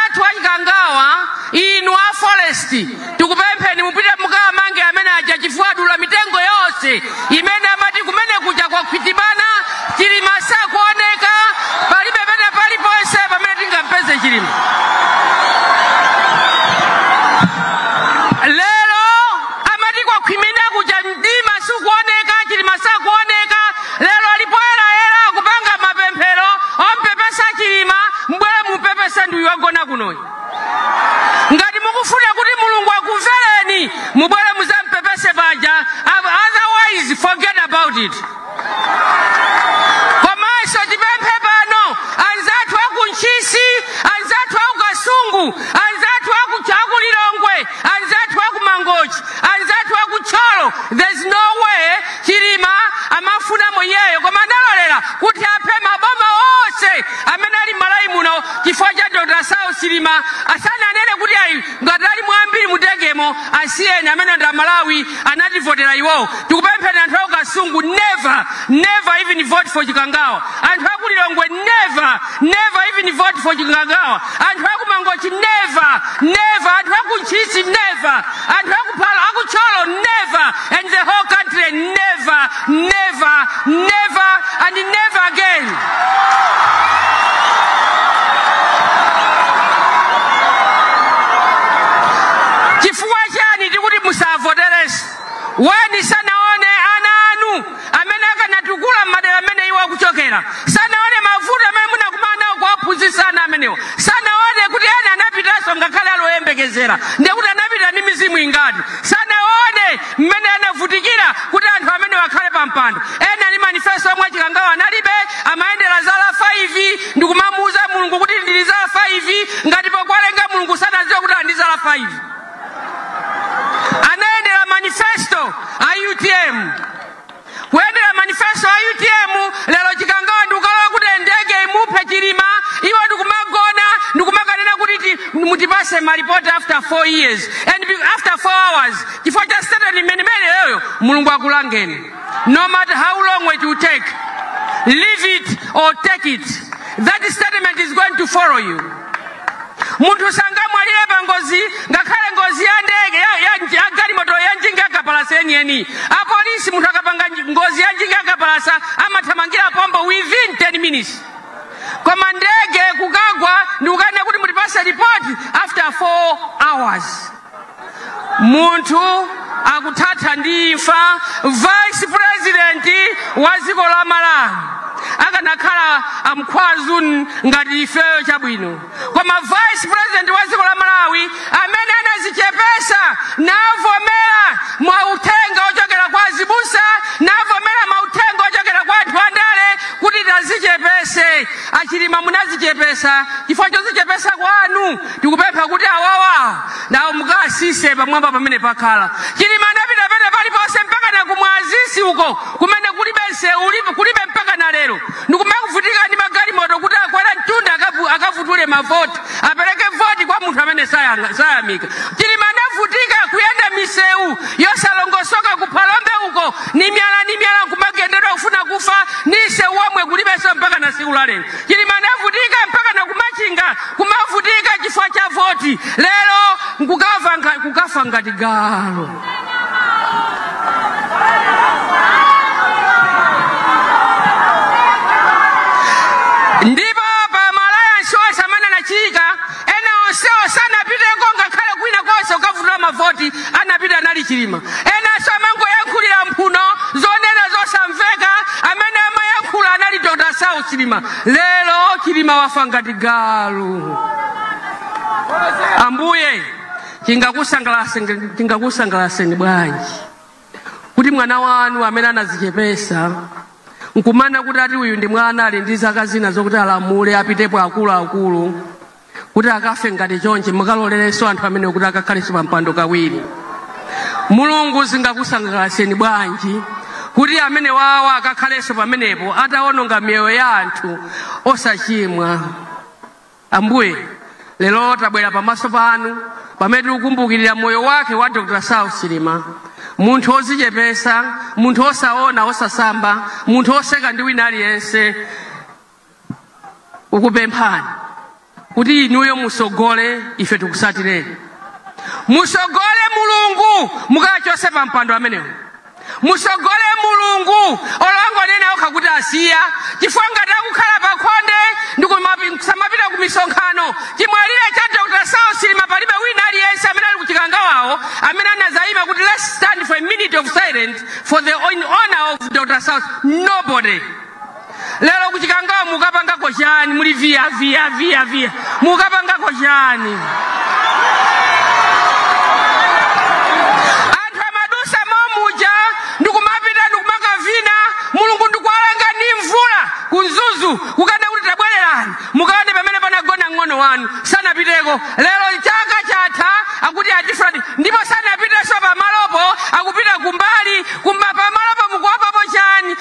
athu achikangawa inu a forest tikupempheni mupite mukawamange amene aja chifukwa adula mitengo yonse imene amati kumene kuja kwakhwitibana chilima sakuoneka palibe pena paliponse pamene tingampeze chilima lero amati kwakhwimina kuja mdima sukuoneka chilima sakuoneka Lero ali poyerayera akupanga mapemphero ompepesa Chilima mubwere mumpepese ndi uyu wagona kunoyi. Ngati mukufuna kuti Mulungu akumvereni mubwere muzampepese paja otherwise forget about it. Komanso tipemphe pano anzathu aku Ntchisi, anzathu aku Kasungu, anzathu aku aku Lilongwe, anzathu aku Mangochi, anzathu aku Thyolo. There's no way Chilima amafunamo iyeyo koma analolera kuti aphe maboma onse amene ali m'Malawi muno chifukwa cha Dr. Saulos Chilima asananene kuti ayi ngati alimo ambiri mutengemo asiyeni amene ndi Amalawi anativotera iwowo. Tikupempheni anthu a ku Kasungu never never even vote for Chikangawa. Anthu a ku Lilongwe never never even vote for Chikangawa. Anthu a ku Mangochi never never anthu a ku Ntchisi never Anthu aku phalo aku tcholo never and the whole country never never never and never again. Chifukwa chani tikuti musavoterenso? Why amene akanatukula m'madera amene iwo akuchokera sanaone mavuto amene munakumana nawo kuwaphunzitsa ana amenewa sanaone kuti ena anapitanso ngakhale ali oyembekezera ndiye kuti anapita ndi mizimu ingati sanaone mmene anavutikira kuti anthu amenewa akhale pa mpando ena ali ndi manifesto omwe achikangawa analibe amayendera zala 5 ndi kumamuuza mulungu kuti ndili zala 5 ngati powalenga mulungu sanadziwe kuti ali ndi zala 5 anayendera manifesto a utm kuyendera manifesto a utm lero chikangawa ndikukalola kuti ndege imuphe chilima iwo ndikumagona ndikumakanena kuti ti- mutipase malipoti after 4 years and be- after 4 hours chifukwa cha statement imenemeneyoyo mulungu akulangeni no matter how long it will take leave it or take it that statement is going to follow you munthu sangamwalire pa ngozi ngakhale ngozi ya ndege ya, ya, ya galimoto ya njinga yakapalasa yeniyeni apolisi munthu akapanga nji- ngozi ya njinga yakapalasa amathamangira pompo within 10 minutes koma ndege kukagwa ndikukanena kuti mutipase ripoti after 4 hours munthu akuthatha ndi imfa vice president wa dziko la malawi akanakhala ankhwazi ngati ifeyo chabwino koma vice president wa dziko la malawi amene anazichepesa navomera mauthenga ochokera kwa azibusa navomera mauthenga ochokera kwa anthu andale kuti tazichepese achilima munazichepesa chifukwa chozichepesa kwanu tikupempha kuti awawa nawo mukatsitse pamwamba pamene pakhala chilima anapita pene paliponse mpaka na kumwazisi uko kumene kulibe nsewu ulipo- kulibe mpaka na lero ndikumakuvutika ndi magalimoto kuti akwera mtunda akafu- akafukule mavoti apereke voti kwa munthu amene sayanga- sayamika chilima anavutika kuyenda misewu yosalongosoka kuphalombe uko ni miyala ni miyala kumagendedwa kufuna kufa ni nsewu womwe kulibenso mpaka na siku la lero Chilima anavutika mpaka na kumachinga kumavutika chifukwa cha voti, lero nkukafa nga- kukafa ngati galu. Ndipo pa maliro osamanena Chika Ena onsewo sanapiteko ngakhale kwina konse kukafukula mavoti, anapita anali Chilima. Enanso amangoyankhulira mphuno zonena zosamveka, amene amayankhula anali Dr. Saulos Chilima. Lero Chilima wafa ngati galu. Ambuye, chingakusangalatseni chingakusangalatseni bwanji? kuti mwana wanu amene anadzichepetsa nkumana kuti ati uyu ndi mwana ali ndi zaka zina zokuti alamule apitepo akuluakulu kuti akafe ngati chonchi mukalolerenso anthu amene kuti akakhalenso pa mpando kawiri mulungu zingakusangalatseni bwanji kuti amenewawo akakhalenso pamenepo atawononga miyoyo ya anthu osachimwa Ambuye, lero tabwera pamaso panu pamene tikukumbukirira moyo wake wa Dr. Saulos Chilima, munthu wodzichepetsa, munthu wosaona, wosasamba, munthu woseka ndi wina aliyense. Tikupemphani kuti inuyo mutsogole, ife tikutsatireni. Mutsogole Mulungu mukachotse pa mpando amenewo. Mutsogole mulungu olo angonena okha kuti asiya chifukwa ngati akukhala pakhonde ndikusamapita kumisonkhano chimwalire cha Dr saulos chilima palibe wina aliyense amene ali kuchikangawawo amene anadzayima kuti let's stand for a minute of silence for the in honor of Dr saulos nobody lero kuchikangawa mukapangako chani muli via via via via mukapangako chani anthu amadusa momuja ndikumapita ndikumakavina mulungu ndikuwalanga ndi mvula kuMzuzu kukana kuti tabwererani mukaone pamene panagona mng'ono wanu sanapiteko lero chaka chatha akuti atifradi ndipo sanapitenso pamalopo akupita kumbali kumba pamalopo mukuopapo chani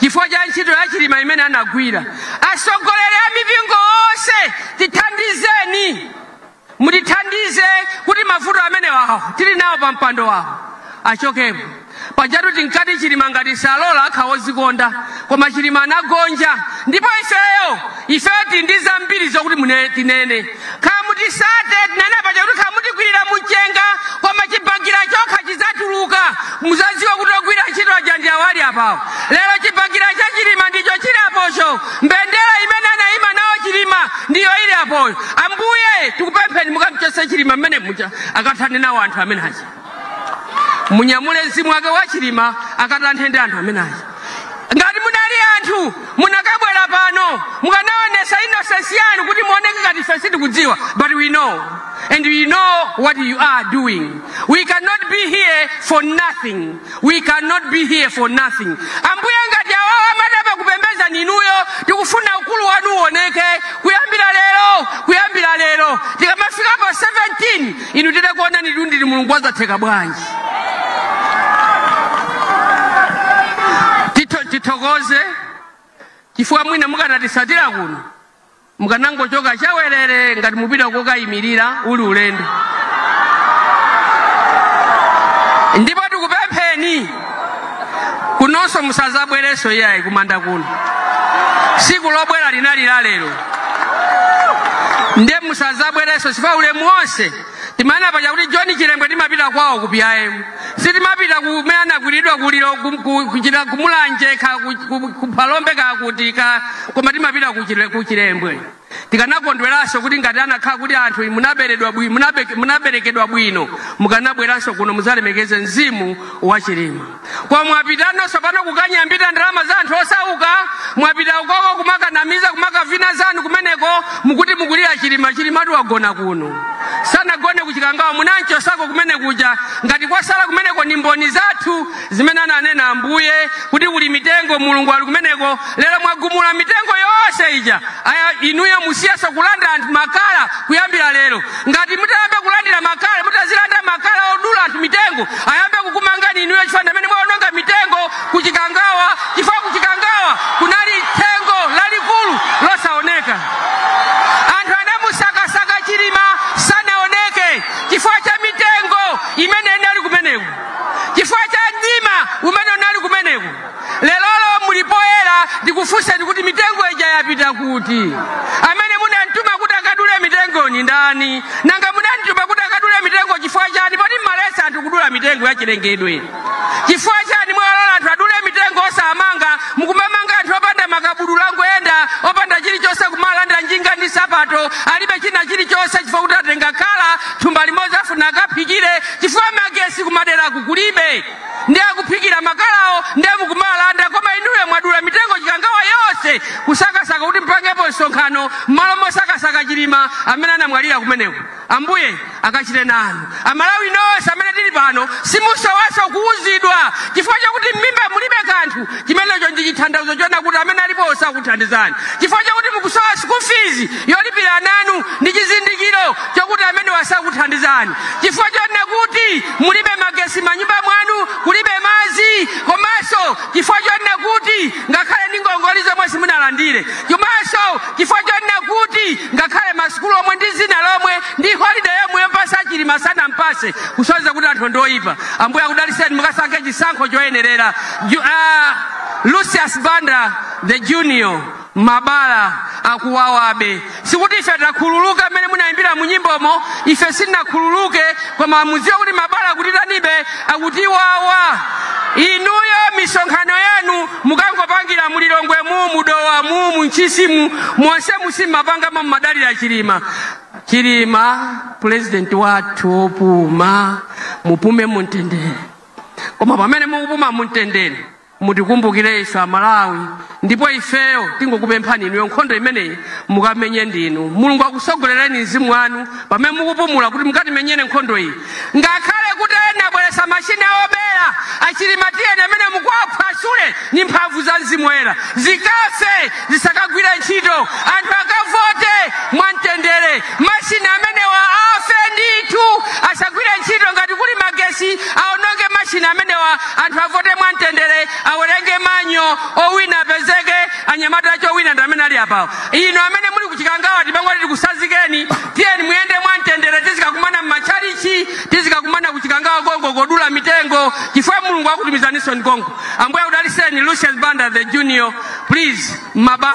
chifukwa cha ntchito ya chilima imene anagwira atsogoleri a mipingo onse tithandizeni mutithandize kuti mavuto amenewawo tili nawo pa mpando wawo achokepo pajatu tinkati chilima ngati salola akhala wodzikonda koma chilima anagonja ndipo ifeyo ifeyo tili ndi zambiri zokuti mune- tinene Kamutisate tinanena paja kuti kamutikwirira mumchenga koma chibagira chokha chizatuluka muzaziwa kuti ogwira ntchito aja ndi awo ali apawo lero chibagira cha chilima ndicho chili apocho mbendera imene anaima nawo chilima ndiyo ili apoyo ambuye tikupempheni mukamchose chilima mmene muja akathane nawo anthu amene aja munyamule mzimu wake wa chilima akatanthe ndi anthu amene aja ngati munali anthu munakabwera pano mukanaonesa innocence yanu kuti muoneke ngati ife sitikudziwa but we know and we know what you are doing we cannot be here for nothing We cannot be here for nothing. Ambuye ngati awawa amadaba kupembeza ni inuyo tikufuna ukulu wanu uoneke kuyambira lero kuyambira lero tikamafika pa 17 inu titakuonanitu ndinu mulungu wazatheka bwanji Tito- tithokoze chifukwa mwina mukanatisatira kuno mukanangochoka chawerere ngati mupita kokayimilira uli ulendo ndipo tikupempheni kunonso musazabwerenso iyayi kumanda kuno siku lobwera linali la lero nde musazabwerenso chifukwa ulemu wonse Timanena paja kuti John Chilembwe timapita kwawo ku PIM. Sitimapita kumene anagwiridwa kuliro kuchita ku Mulanje ka ku Phalombe ka kuti ka koma timapita ku Chile- ku Chilembwe. Tikanakondweranso kuti ngati anakhala kuti anthu inu munaberedwa bwino munaberekedwa bwino mukanabweranso kuno muzalemekeze mzimu wa Chilima. Koma mwapitano sopano kukanyambita ndalama za anthu osauka mwapita ukoko kumakanamiza kumakavina zanu kumeneko mukuti mukulira chilima chilimatu wagona kuno sanagone kuchikangawa munanchosako kumene kuja ngati kwasala kumeneko ni mboni zathu zimene ananena ambuye kuti kuli mitengo mulungu ali kumeneko lero mwagumula mitengo yonse ija aya inuyo musiyaso kulanda anthu makala kuyambira lero ngati mutayamba kulandira makala mutazilanda makala odula anthu mitengo ayambe kukumangani inuyo chifukwa ndamene mwaononga mitengo kuchikangawa chifukwa kuchikangawa kunali thengo lalikulu losaoneka anthu anamusakasaka chilima sanaoneke chifukwa cha mitengo imene inali kumeneko chifukwa cha mdima umene unali kumeneko Lerolo muli poyera ndikufunseni kuti mitengo ija yapita kuti? Amene munamtuma kuti akadule mitengo ndi ndani? Nanga munamtuma kuti akadule mitengo chifukwa chani? Poti mmalesa anthu kudula mitengo ya chilengedwe. Chifukwa chani mwalola anthu adule mitengo osamanga mukumamanga anthu opanda makabudula angoyenda opanda chilichonse kumalanda njinga ndi sapato alibe china chilichonse chifukwa kuti atenga khala thumba limodzi afuna akaphikire chifukwa magesi kumaderaku kulibe. ndi akuphikira makalawo ndi mukumalanda koma inuyo mwadula mitengo chikangawa yonse kusakasaka kuti mpangepo msonkhano mmalo mosakasaka chilima amene anamwalira kumeneko ambuye akachite nanu amalawi nonse amene tili pano simusowaso kuuzidwa chifukwa chakuti mmimba mulibe kanthu chimenecho ndi chithandizo chonena kuti amene alipo sakuthandizani chifukwa chakuti mukusowa school fees yolipira nanu ndi chizindikiro chokuti amenewa sakuthandizani chifukwa chonena kuti mulibe magesi manyumba mwanu kulibe madzi komanso chifukwa chonena kuti ngakhale ndi ngongole zomwe simunalandire komanso chifukwa chonena kuti ngakhale masukulu omwe ndi dzina lomwe ndi holiday yomwe yompasa chilima sanampase kusonyeza kuti anthu ndoyipa ambuye akudaliseni mukasankhe chisankho choyenerera Ju- ah, lucius banda the junior mabala akuwawabe sikuti ife takhululuka mmene munayimbira mu nyimbomo ife sitinakhululuke koma mudziwe kuti mabala akutitanibe akutiwawa inuyo misonkhano yanu mukangopangira mulilongwemu mudowamu muntchisimu monse musimmapangamo mumadalira chilima chilima pulezidenti wathu opuma mupume mumtendere koma pamene mukupuma mumtendere mutikumbukire ife amalawi ndipo ifeyo tingokupemphani inuyo nkhondo imeneyi mukamenye ndinu mulungu akusogolereni mzimu wanu pamene mukupumula kuti mukatimenyere nkhondo iyi ngakhale kuti ena abweresa mashini obera achilima tiyeni amene mukawaphwasule ni mphamvu za mzimu woyera zikafe zisakagwire ntchito anthu akavote mwamtendere Mashini amenewa afe ndithu, asagwire ntchito. Ngati kuli magesi, aononge mashini amenewa. Anthu avote mwamtendere, awerenge manyo, owina apezeke. Anyamata cho wina ndi amene ali apawo. Inu amene muli ku Chikangawa, tipangoti tikusazikeni, tiyeni muyende mwamtendere. Tizikakumana m'matchalitchi, tizikakumana ku Chikangawa konko kodula mitengo, chifukwa Mulungu akutumizaninso konko. Ambuye akudalitseni. Lucius Banda the Junior, please, maba